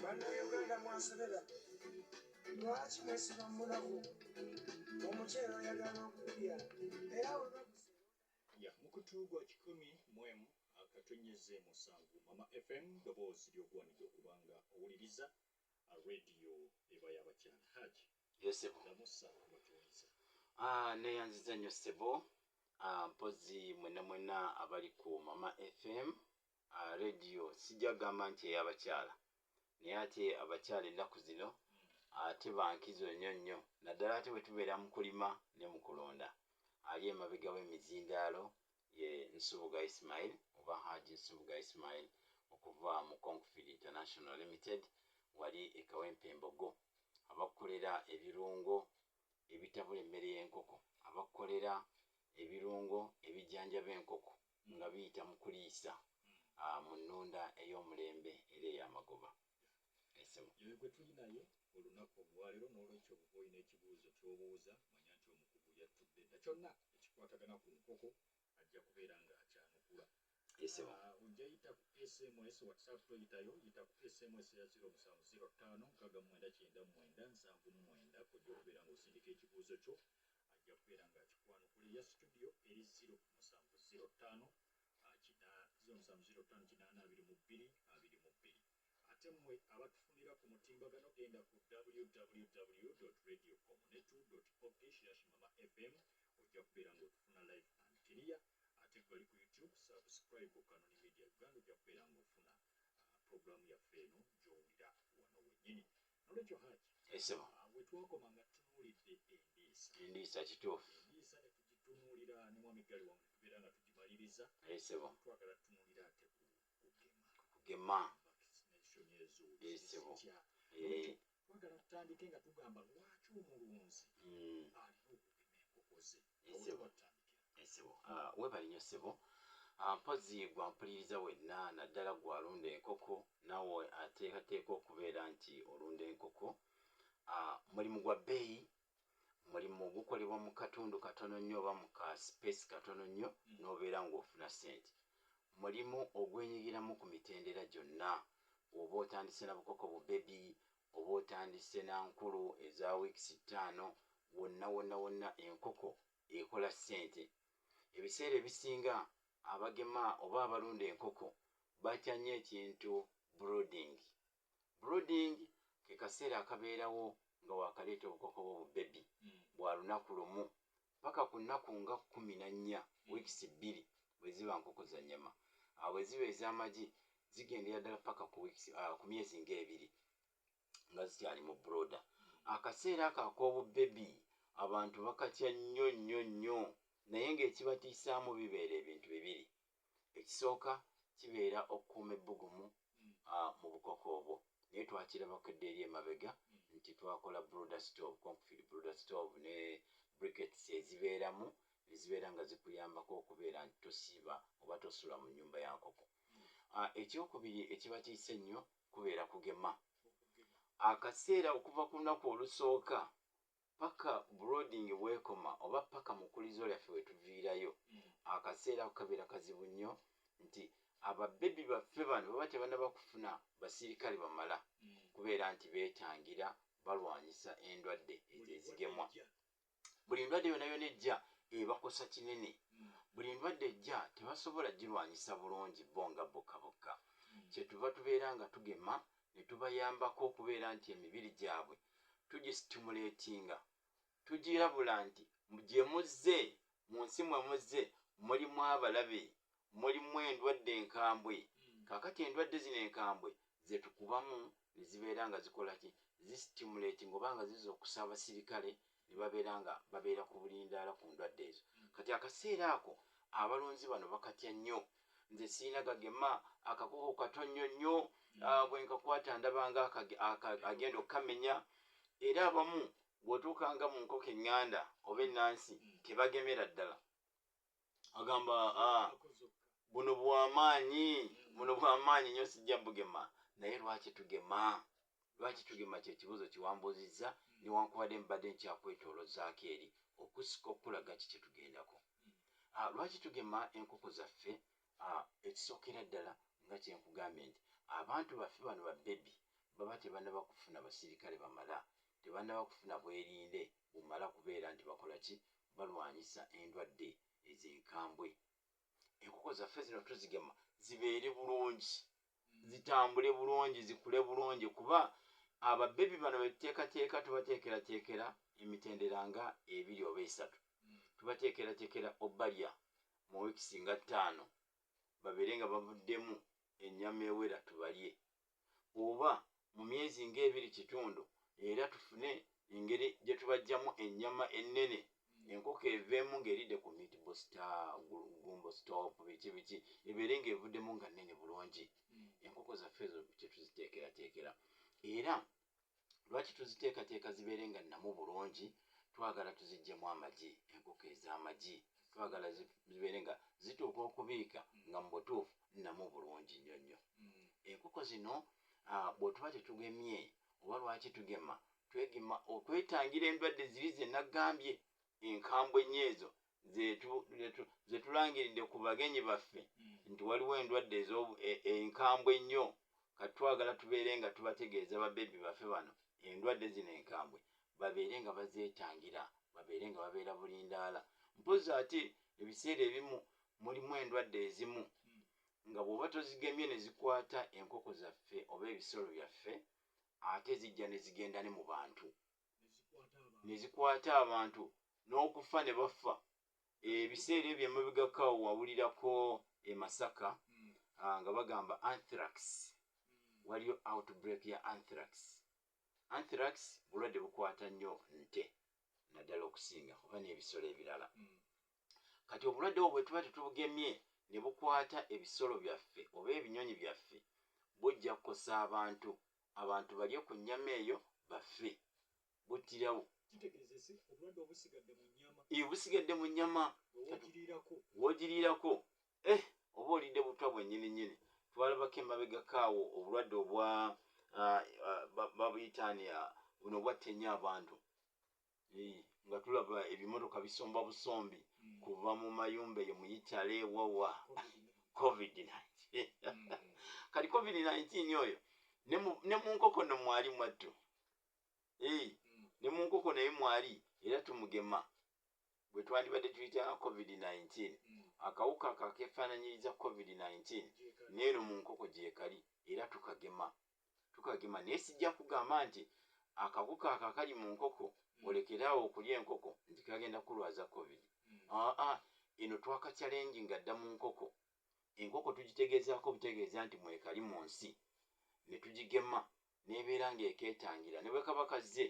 bannayuganda mwasobera lwaki mwesiba mulamu omuceera oyagala okulya era ya mukutu gwa kikumi mwemu akatonyeze musanvu mama fm doboozi lyogwanidde okubanga owuliriza radio eba yabakyala haji Yo ssebo. Ah, neyanziza nnyo ssebo ah, mpozi mwena mwena abali ku mama fm ah, radio sijja gamba nti eyabakyala naye ate abakyala ennaku zino ate bankizo nnyo nnyo naddala ate bwe tubeera mu kulima ne mu kulonda ali emabega w'emizindaalo Ye Nsubuga Ismail oba Haji Nsubuga Ismail okuva mu Concfeed International Limited wali e Kawempe Mbogo, abakukolera ebirungo ebitabula emmere y'enkoko, abakukolera ebirungo ebijanjaba enkoko nga biyita mu kuliisa mu nnunda ey'omulembe era ey'amagoba. Esau. Yoyo gwe tuli naye olunaku olwalero nolwekyo bwoba olina ekibuuzo kyobuuza manya nti omukugu yattudde dda kyonna ekikwatagana ku nkoko ajja kubeera nga akyanukula. Esau. Ah, ojja yita ku sms whatsapp toyitayo yita ku sms eya 0 musanvu 0 ttaano nkaaga mu mwenda kyenda mu mwenda nsanvu mu mwenda kojja okubeera nga osindika ekibuuzo kyo ajja kubeera nga akikwanukula eya situdiyo eri 0 musanvu 0 ttaano kina ziro musanvu ziro ttaano kinaana abiri mu bbiri abiri mu bbiri ate mmwe abatufunira ku mutimbagano genda ku www radio omunetu op slash mama fm ojja kubeera ng'otufuna live and clear ate gwali ku youtube subscribe ku kanoni media uganda ojja kubeera ng'ofuna uh, programu yaffe eno gy'owulira wano wennyini Nolwekyo Hajj, Esebo. ah, we twakoma nga tutunuulidde endiisa Endiisa kituufu. endiisa ne tugitunuulira ne mwami Ggali wamu ne tubeera nga tugimaliriza Esebo. twagala tutunuulire ate ku kugema Kugema. vaccination ezo Esebo. zitya Eh. twagala tutandike nga tugamba lwaki omulunzi Mm. alina okugema enkoko ze esebo esebo ah, webale nyo sebo ah, mpozi gwa mpuliriza wenna naddala gwalunda enkoko nawe ateekateeka okubeera nti olunda enkoko ah, mulimu gwa bbeeyi mulimu gukolebwa mu katundu katono nnyo oba mu ka space katono nnyo mm. n'obeera ng'ofuna sente mulimu ogwenyigiramu ku mitendera gyonna oba otandise na bukoko bu bebi Oba otandisse na nkulu eza weeks ttaano wonna wonna wonna enkoko ekola ssente. Ebiseera ebisinga abagema oba abalunda enkoko batya nnyo ekintu brooding. Brooding ke kaseera akabeerawo nga wakaleeta obukoko bwo bu baby bwa lunaku lumu paka ku nnaku nga kkumi na nnya, weeks, bbiri bwe ziba nkoko za nnyama. Awo bwe ziba ez'amagi zigendera ddala paka ku weeks, uh, ku myezi nga ebiri nga zikyali mu broda. Akaseera ako ak'obubbebi abantu bakatya nnyo nnyo nnyo, naye ng'ekibatiisaamu bibeera ebintu bibiri. ekisooka kibeera okukuuma ebbugumu mu bukoko obwo naye twakirabako edda eri emabega nti twakola brooder stove, concrete brooder stove ne briquettes ezibeeramu ne zibeera nga zikuyambako okubeera nti tosiiba oba tosula mu nnyumba ya nkoko. Ekyokubiri ekiba kiyise ennyo kubeera kugema. Akaseera okuva ku lunaku olusooka paka brooding wekoma oba paka mukulizo lyaffe wetuviirayo akaseera ako kabeera kazibu nnyo nti aba baby baffe bano baba tebanaba kufuna basirikale bamala kubeera nti betangira balwanyisa endwadde ezo ezigemwa buli ndwadde yona yona ejja ebakosa kinene buli ndwadde ejja tebasobola gilwanyisa bulungi bo nga bokka bokka kyetuva tubeera nga tugema ne tubayambako okubeera nti emibiri gyabwe tugisitimuleetinga, tugirabula nti gye muzze, mu nsi mwe muzze mulimu abalabe, mulimu endwadde enkambwe. Kaakati endwadde zino enkambwe ze tukubamu ne zibeera nga zikola ki? Zisitimuleetinga oba nga zizuukusa abasirikale ne babeera nga babeera ku bulindaala ku ndwadde ezo. Kati akaseera ako abalonzi bano bakatya nnyo. Nze sirina gagema, akakoko kato nnyo nnyo, ah, bwe nkakwata ndaba nga akage- aka- agenda okukamenya. Era abamu bw'otuuka nga mu nkoko eŋŋanda oba ennansi tebagemera ddala. agamba ah, buno bwamaanyi buno bwamaanyi nyo sijja bugema naye lwaki tugema lwaki tugema kyekibuzo kiwambuzizza newankubadde mbadde nkyakwetolozaako eri okusika okukulaga ki kyetugendako ah, lwaki tugema enkoko zaffe ah, ekisookera ddala nga kyenkugambye nti abantu baffe bano babebi baba tebanaba kufuna basirikale bamala tebanaba kufuna bwerinde bumala kubeera nti bakola ki? Balwanyisa endwadde ezo enkambwe. Enkoko zaffe zino tuzigema zibeere bulungi, zitambule bulungi, zikule bulungi kuba ababebi bano betuteekateeka tubateekerateekera emitendera nga ebiri oba esatu. Tubateekerateekera obalya mu wiiki singa ttaano babeere nga bavuddemu ennyama ewera tubalye oba mu myezi ng'ebiri kitundu era tufune engeri gye tubajjamu ennyama ennene enkoko eveemu ng'eridde ku meat booster, gu- gumbo stop biki biki ebeere ng'evuddemu nga nnene bulungi enkoko zaffe ezo kye tuziteekerateekera era lwaki tuziteekateeka zibeere nga nnamu bulungi twagala tuziggyemu amagi enkoko ez'amagi twagala zibeere nga zituuka okubiika nga mu butuufu nnamu bulungi nnyo nnyo mm. enkoko zino ah, bwetuba tetugemye oba lwaki tugema twegema okwetangira endwadde ziri zenagambye enkambwe nnyo ezo zetulangiridde ku bagenyi baffe hmm. nti waliwo endwadde e, enkambwe ennyo kati twagala tubeere nga tubategeeza babebi baffe bano endwadde zino enkambwe babeere nga bazeetangira babeere nga babeera bulindaala mpozi ate ebiseera ebimu mulimu endwadde ezimu hmm. nga bw'oba tozigemye ne zikwata enkoko zaffe oba ebisolo byaffe ate zijja ne zigenda ne mu bantu ne zikwata abantu n'okufa ne bafa ebiseera ebyo emabegako wawulirako e masaka hmm. ah, nga bagamba anthrax hmm. waliyo outbreak ya anthrax anthrax bulwadde bukwata nnyo nte naddala okusinga oba n'ebisolo ebirala hmm. kati obulwadde obwo bwetuba tetubugemye ne bukwata ebisolo byaffe oba ebinyonyi byaffe bujja kukosa abantu abantu balye ku nnyama eyo bafe buttirawo busigadde mu nnyama wogiriirako eh, oba olidde butwa bwennyini nnyini twalabako emabegako awo obulwadde obwa ah, ah, babuyitaani ah, buno bwattenya abantu nga tulaba ebimotoka bisomba busombi mm. kuva mu mayumba eyo muyitale wawa covid 19 mm. kati covid 19 oyo ne mu nkoko no mwali mwattu mm. ne mu nkoko naye mwali era tumugema bwe twandibadde tuyita covid 19 akawuka kakefaananyiriza covid 19 neeno mu nkoko gyekali era tukagema tukagema naye sijja kugamba nti akawuka ako akali mu nkoko mm. olekere awo okulya enkoko nti kagenda kukulwaza covid mm. aa ah, ah, eno twaka challenge nga dda mu nkoko enkoko tugitegeezaako obutegeeza nti mwekali mu nsi ne tugigema n'ebeera ng'ekeetangira ne bwe kaba kazze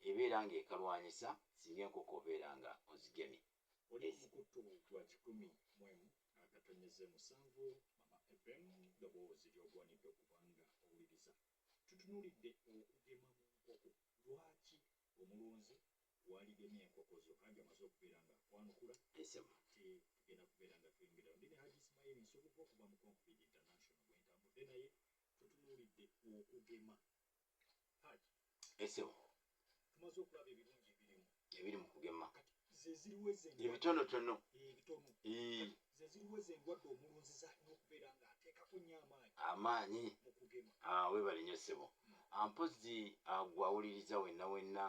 ebeera ng'ekalwanyisa singa enkoko obeera nga ozigemye Oli omukutu gwa kikumi mwemu akatonyeze musanvu mama FM doboozi lyogwanidde okubanga owuliriza tutunulidde okugema mu nkoko lwaki omulunzi waligemye enkoko zo haji amaze okubeera nga akwanukula ate tugenda kubeera nga tweyongerayo ndi ne haji ismaili nsubuga okuva mu confid international bwentambudde naye tutunulidde okugema esebo ebiri mu kugema ebitonotono amaanyi ah, webale nyo sebo hmm. ah, mpozi ah, gwawuliriza wenna wenna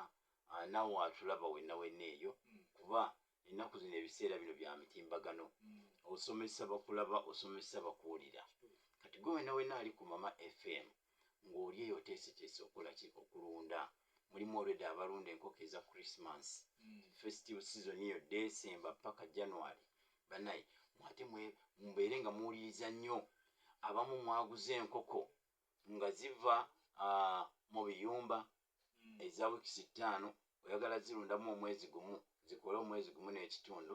nawe atulaba wenna wenna eyo hmm. kuba ennaku zino ebiseera bino bya mitimbagano osomesa bakulaba osomesa bakuwulira kati gwe wena wena ali ku mama fm ng'oli eyo oteeseteese okukola ki okulunda mulimu olwedde abalunda enkoko eza christmas mm. festive season eyo december paka january banaye mwate mubeere nga muwuliriza nnyo abamu mwaguza enkoko nga ziva uh, mu biyumba eza wikisi ttaano oyagala zirundamu omwezi gumu zikole omwezi gumu n'ekitundu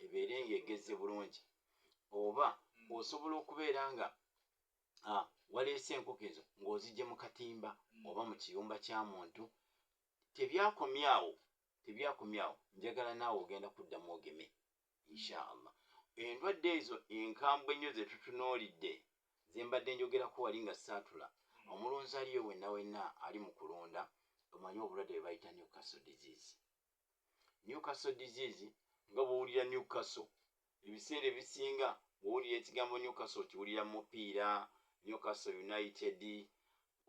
ebeere nga egezze bulungi oba hmm. osobola okubeera nga ah, waleese enkoko ezo ng'ozijje mu katimba hmm. oba mu kiyumba kya muntu tebyakomyawo tebyakomyawo njagala naawe ogenda kuddamu ogeme inshaallah endwadde ezo enkambwe ennyo zetutunuulidde zembadde njogerako wali nga saatula hmm. omulunzi aliyo wenna wenna ali mu kulunda omanyi obulwadde bwe bayita newcastle disease newcastle disease nga bwowulira newcastle ebiseera ebisinga bwowulira ekigambo newcastle okiwulira mupiira newcastle united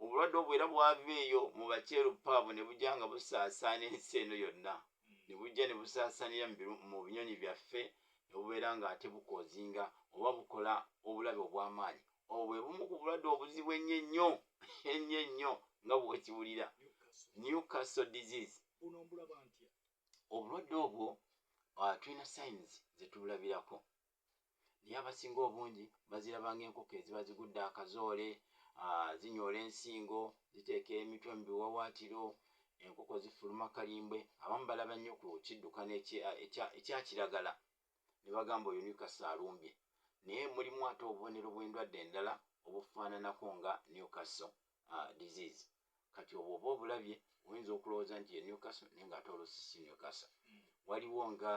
obulwadde obwo era bwava eyo mu bakyeruppe abo ne bujja nga busaasaana ensi eno yonna ne bujja ne busaasaanira mu binyonyi byaffe ne bubeera ng'ate bukoozinga oba bukola obulabe obw'amaanyi obwo bwe bumu ku bulwadde obuzibu ennyo ennyo ennyo ennyo nga bw'okiwulira newcastle disease obulwadde obwo ah, tulina sayinizi ze tubulabirako naye abasinga obungi baziraba ng'enkoko eziba zigudde akazoole, ah, zinyoola ensingo, ziteeka emitwe mu biwawaatiro, enkoko zifuluma kalimbwe. Abamu balaba nnyo ku kiddukano ekya kiragala ne bagamba oyo Newcastle alumbye, naye mulimu ate obubonero bw'endwadde endala obufaananako nga Newcastle ah, disease. kati obwo oba obulabye oyinza okulowooza nti ye newcastle naye nga ate oluusi si newcastle mm. waliwo nga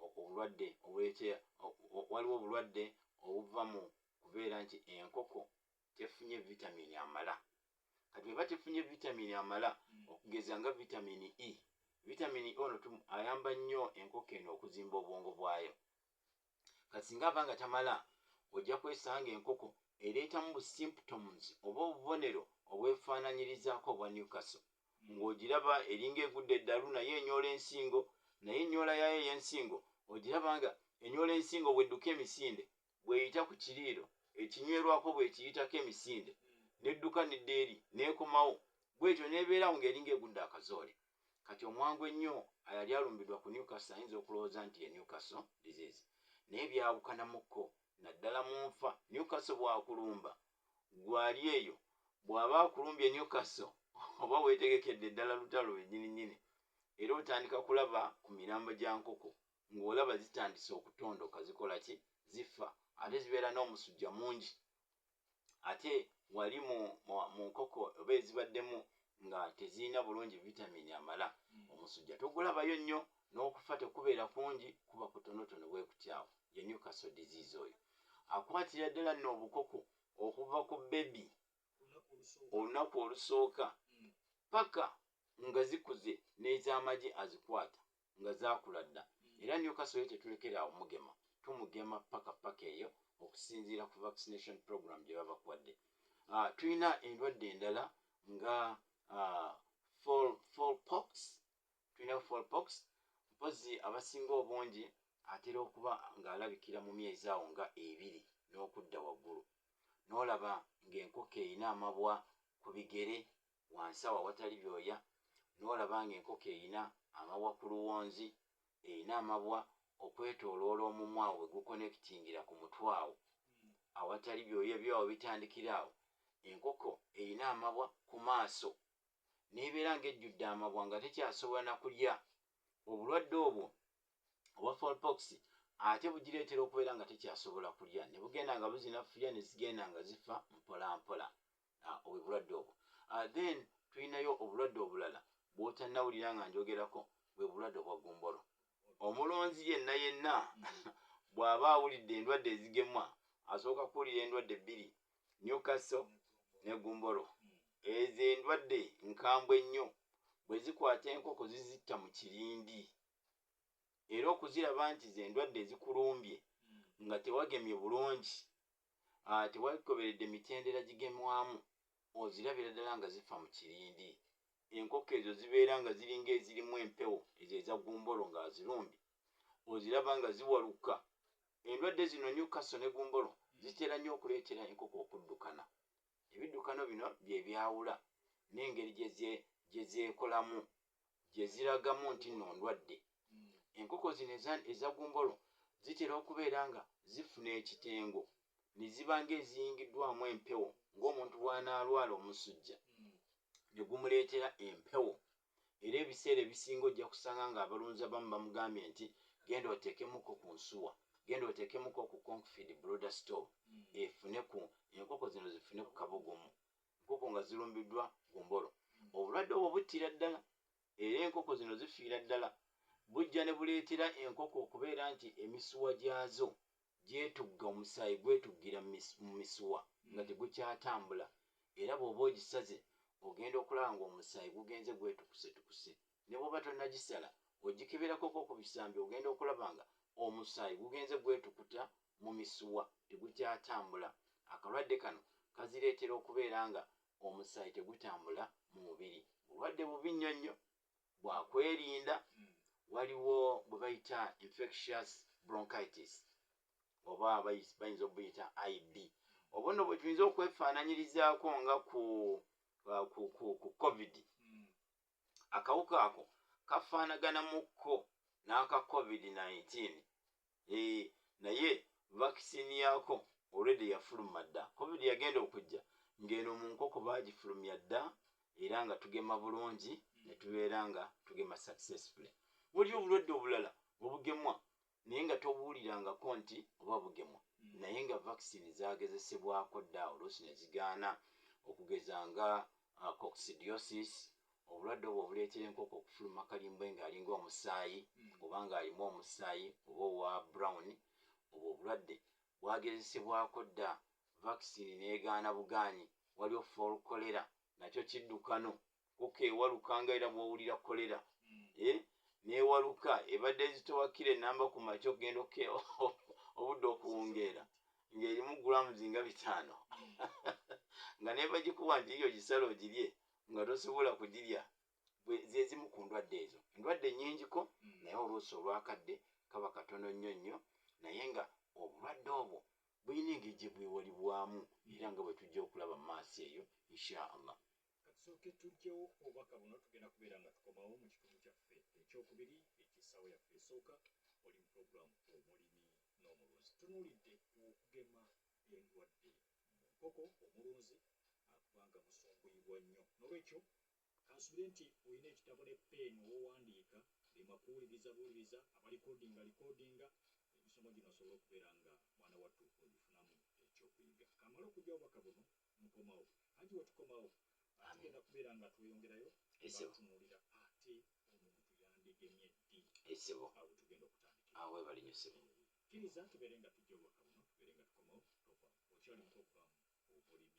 obulwadde obulete waliwo obulwadde obuva mu kubeera nti enkoko tefunye vitamini amala kati eba tefunye vitamini amala mm. okugeza nga vitamini e vitamini e ono ayamba nnyo enkoko eno okuzimba obwongo bwayo kati singa ava nga tamala ojja kwesanga enkoko ereetamu bu symptoms oba obubonero obwefaananyirizaako obwa Newcastle ng'ogiraba eringa egudde eddalu naye enyoola ensingo naye ennyoola yaayo ey'ensingo ogiraba nga enyoola ensingo bw'edduka emisinde bw'eyita ku kiriiro ekinywerwako bw'ekiyitako emisinde n'edduka n'edda eri n'ekomawo bw'etyo n'ebeera awo ng'eringa egudde akazoole. Kati omwangu ennyo ayali alumbidwa ku Newcastle ayinza okulowooza nti ye Newcastle disease naye byawukanamu ko naddala mu nfa. Newcastle bwakulumba gwe ali eyo, bwaba akulumbye Newcastle oba wetegekedde ddala lutalo lwenyini nyini era otandika kulaba ku mirambo gya nkoko ng'olaba zitandise okutondoka zikola ki? Zifa ate zibeera n'omusujja mungi. ate wali mu nkoko oba ezibaddemu nga tezirina bulungi vitamini amala hmm. omusujja togulabayo nnyo n'okufa tekubeera kungi kuba kutonotono bwe kutyawo ye newcastle disease oyo akwatira ddala nno obukoko okuva ku bebi olunaku olusooka hmm. paka nga zikuze n'ez'amagi azikwata nga zaakula dda era Newcastle ye tetulekera awo mugema, tumugema paka paka eyo okusinziira ku vaccination program gye baba bakuwadde. Uh, tulina endwadde endala nga uh, fall, fall pox tulina fall pox mpozi abasinga obungi atera okuba ng'alabikira mu myezi awo nga ebiri n'okudda waggulu n'olaba ng'enkoko erina amabwa ku bigere wansi awo awatali byoya, n'olaba ng'enkoko erina amabwa ku luwonzi, erina amabwa okwetooloola omumwa awo we gukonekitingira ku mutwe awo awatali byoya, ebyoya we bitandikira awo. Enkoko erina amabwa ku maaso, n'ebeera ng'ejjudde amabwa nga tekyasobola na kulya. Obulwadde obwo obwa fowl pox ate bugireetera okubeera nga tekyasobola kulya, ne bugenda nga buzinafuya ne zigenda nga zifa mpolampola. ah, obulwadde obwo ah, then tulinayo obulwadde obulala bwotanawulira nga njogerako bwe bulwadde obwa gumbolo omulonzi yenna yenna bw'aba awulidde endwadde ezigemwa asooka kuwulira endwadde bbiri newkaso ne gumbolo ezo endwadde nkambwe ennyo bwe zikwata enkoko zizitta mu kirindi era okuziraba nti ze ndwadde ezikulumbye nga tewagemye bulungi Tewagoberedde mitendera gigemwamu, ozirabira ddala nga zifa mu kirindi. Enkoko ezo zibeera nga ziringa ezirimu empewo, ezo eza gumbolo nga azirumbi oziraba nga ziwaluka. Endwadde zino, Newcastle ne gumbolo, zitera nnyo okuleetera enkoko okuddukana. Ebiddukano bino bye byawula n'engeri gye zeekolamu gye ziragamu nti nno ndwadde. Enkoko zino eza eza gumbolo zitera okubeera nga zifuna ekitengo ne ziba ng'eziyingiddwamu empewo ng'omuntu bw'anaalwala omusujja ne gumuleetera empewo era ebiseera ebisinga ojja kusanga ng'abalunzi abamu bamugambye nti genda oteekemuko ku nsuwa, genda oteekemuko ku Concfeed Brooder Store efune ku enkoko zino zifune ku kabugumu enkoko nga zirumbiddwa gumbolo obulwadde obwo buttira ddala era enkoko zino zifiira ddala bujja ne buleetera enkoko okubeera nti emisuwa gyazo gyetugga omusaayi gwetuggira mu misuwa nga tegukyatambula era bw'oba ogisaze ogenda okulaba ng'omusaayi gugenze gwetukusetukuse Ne bw'oba tonnagisala, bw'ogikeberakoko ku bisambi ogenda okulaba nga omusaayi gugenze gwetukuta mu misuwa tegukyatambula. Akalwadde kano kazireetera okubeera nga omusaayi tegutambula mu mubiri. Bulwadde bubi nnyo nnyo bwa kwerinda. Waliwo bwe bayita infectious bronchitis oba bayinza obuyita IB. Obwo nno bwe tuyinza okwefaananyirizaako nga ku, ku, ku, ku Covid. akawuka ako kafaanagana mu kko n'aka covid nineteen ee eh, naye vakisini yaako olwedde yafuluma dda covid yagenda okujja ng'eno mu nkoko baagifulumya dda era nga tugema bulungi ne tubeera nga tugema successfully waliyo obulwadde obulala obugemwa naye nga tobuulirangako nti oba bugemwa mm. naye nga vaccine zagezesebwako dda oluusi ne zigaana okugeza nga uh, coccidiosis obulwadde obwo obuleetera enkoko okufuluma kalimbwe ng'alinga omusaayi mm. oba ng'alimu omusaayi oba owa brown obwo obulwadde bwagezesebwako dda vaccine n'egaana bugaanyi waliwo fol kolera nakyo kiddukano kuka ewaluka nga era bwowulira kolera eh, newaluka ebadde ezitowa kira enamba ku makya okugenda oke obudde okuwungeera ng'erimu grams nga bitaano nga nebagikuwa nti yiyo gisala ogirye nga tosobola kugirya zezimu ku ndwadde ezo endwadde nyingiko mm. naye oluusi olwakadde kaba katono nnyo nnyo naye nga obulwadde obwo bulina engeri gyebwewalibwamu era nga bwetujja okulaba mu maaso eyo insha allah Katusooke tuggyewo obubaka buno tugenda kubeera nga tukomawo mu kitundu kyaffe ekyokubiri eky'essaawa yaffe esooka oli mu pulogulaamu omulimi n'omulunzi tunuulidde okugema endwadde mu nkoko omulunzi akubanga musumbuyibwa nnyo n'olwekyo kansubire nti olina ekitabo ne peeni owowandiika lima kuwuliriza buwuliriza abalikodinga likodinga emisomo gino asobole okubeera nga mwana wattu ogifunamu ekyokuyiga kamala okujja obubaka buno mukomawo anti wetukomawo tugenda kubeera nga tweyongerayo tunuulira ate omuntu yandigemye ddi esibo awo tugenda okutandika awo webali nyo sibo kiriza tubeere nga tujja obubaka buno tubeere nga tukomawo okyali muto okubamu obulimi